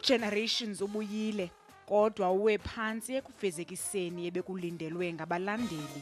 uGenerations ubuyile kodwa uwe phantsi ekufezekiseni ebekulindelwe ngabalandeli.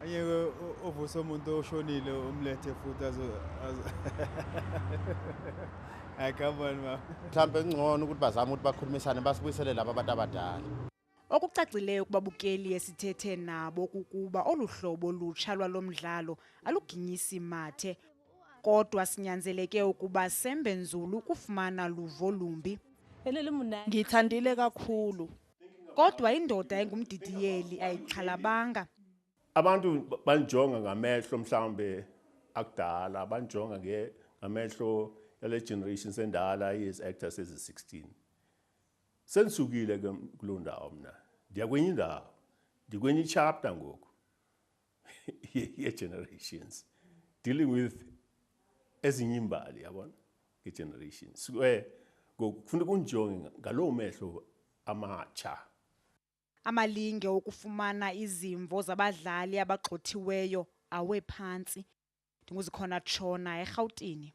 Angeke uvuse umuntu oshonile umlethe futhi azo Hayi come on mama. Mhlambe kungcono ukuthi bazame ukuthi bakhulumisane basibuyisele laba abantu abadala. Okucacileyo kubabukeli esithethe nabo kukuba olu hlobo lutsha lwalo mdlalo aluginyisi mathe kodwa sinyanzeleke ukuba sembe nzulu ukufumana luvo lumbi. Ngithandile kakhulu. kodwa indoda engumdidiyeli ayixhalabanga abantu banjonga ngamehlo mhlawumbe akudala banjonga ngamehlo yale generation sendala iziactor sezi-16 sendisukile ke kuloo ndawo mna ndiyakwenye indawo ndikwenye ichapta ngoku ye-generations dealing with ezinye imbali yabona nge-generations um kufuna kunjonge ngaloo mehlo amatsha amalinge okufumana izimvo zabadlali abagxothiweyo awephantsi ndinguzikhona tshona erhawutini